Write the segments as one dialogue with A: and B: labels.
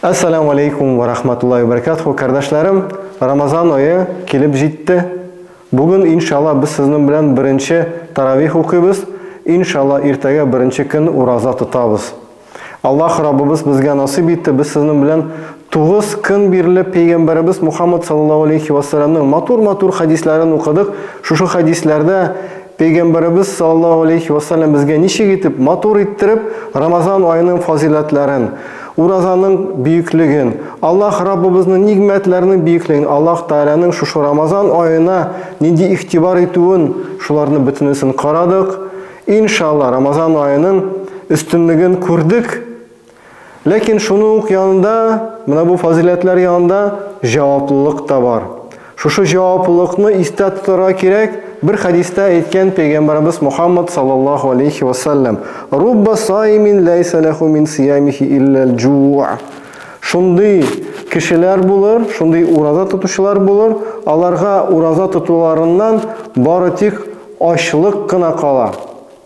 A: Ассаламу алейкум ва рахматуллахи ва баракатуху, кардәшләрем, Рамазан айы килеп җитте. Бүген, иншалла, без сезнең белән беренче таравих укыйбыз. Иншалла, иртәгә беренче көн ураза тотабыз. Аллаһ Раббыбыз безгә насыйп итте, без сезнең белән 9 көн бирле пәйгамбәребез Мухаммад саллаллаһу алейхи ва саллямның матур-матур хәдисләрен укыдык. Шушы хәдисләрдә Пәйгамбәребез саллаллаһу алейһи вә сәлләм безгә ничек итеп матур иттереп Рамазан аеның фазыйләтләрен, уразаның бөеклеген, Аллаһ Раббыбызның нигъмәтләренең бөеклеген, Аллаһ Тәгаләнең шушы Рамазан аена нинди игътибар итүен, шуларны бөтенесен карадык. Иншалла, Рамазан аеның өстенлеген күрдек. Ләкин шуның ук янында, менә бу фазыйләтләр янында җаваплылык та бар. Шушы җаваплылыкны истә тотарга кирәк, бер хәдистә әйткән пәйгамбәребез Мухаммад саллаллаһу алейхи ва саллям, Рубба саимин ләйсә ләху мин сиямихи илләл җуа. Шундый кешеләр булыр, шундый ураза тотучылар булыр, аларга ураза тотуларыннан бары тик ачлык кына кала.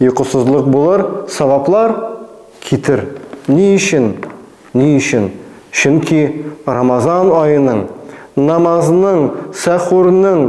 A: Йокысызлык булыр, саваплар китер. Ни өчен? Ни өчен? Чөнки Рамазан аеның, намазның, сәхурның,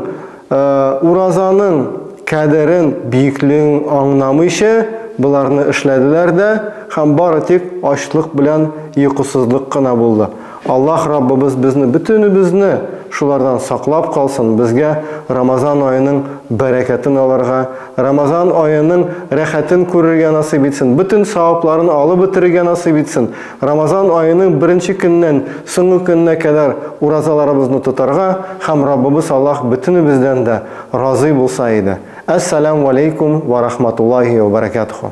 A: уразаның кадерен, биеклеген аңнамыйча, боларны эшләделәр дә һәм бары тик ачлык белән йокысызлык кына булды. Аллаһ Раббыбыз безне бөтенебезне шулардан саклап калсын, безгә Рамазан аеның бәрәкәтен алырга, Рамазан аеның рәхәтен күрергә насыйп итсен, бөтен савапларын алып бетерергә насыйп итсен, Рамазан аеның беренче көненнән соңгы көненә кадәр уразаларыбызны тотарга һәм Раббыбыз Аллаһ бөтенебездән дә разый булса иде. Әс-саләмү аләйкүм вә рахматуллаһи вә бәрәкәтүһү.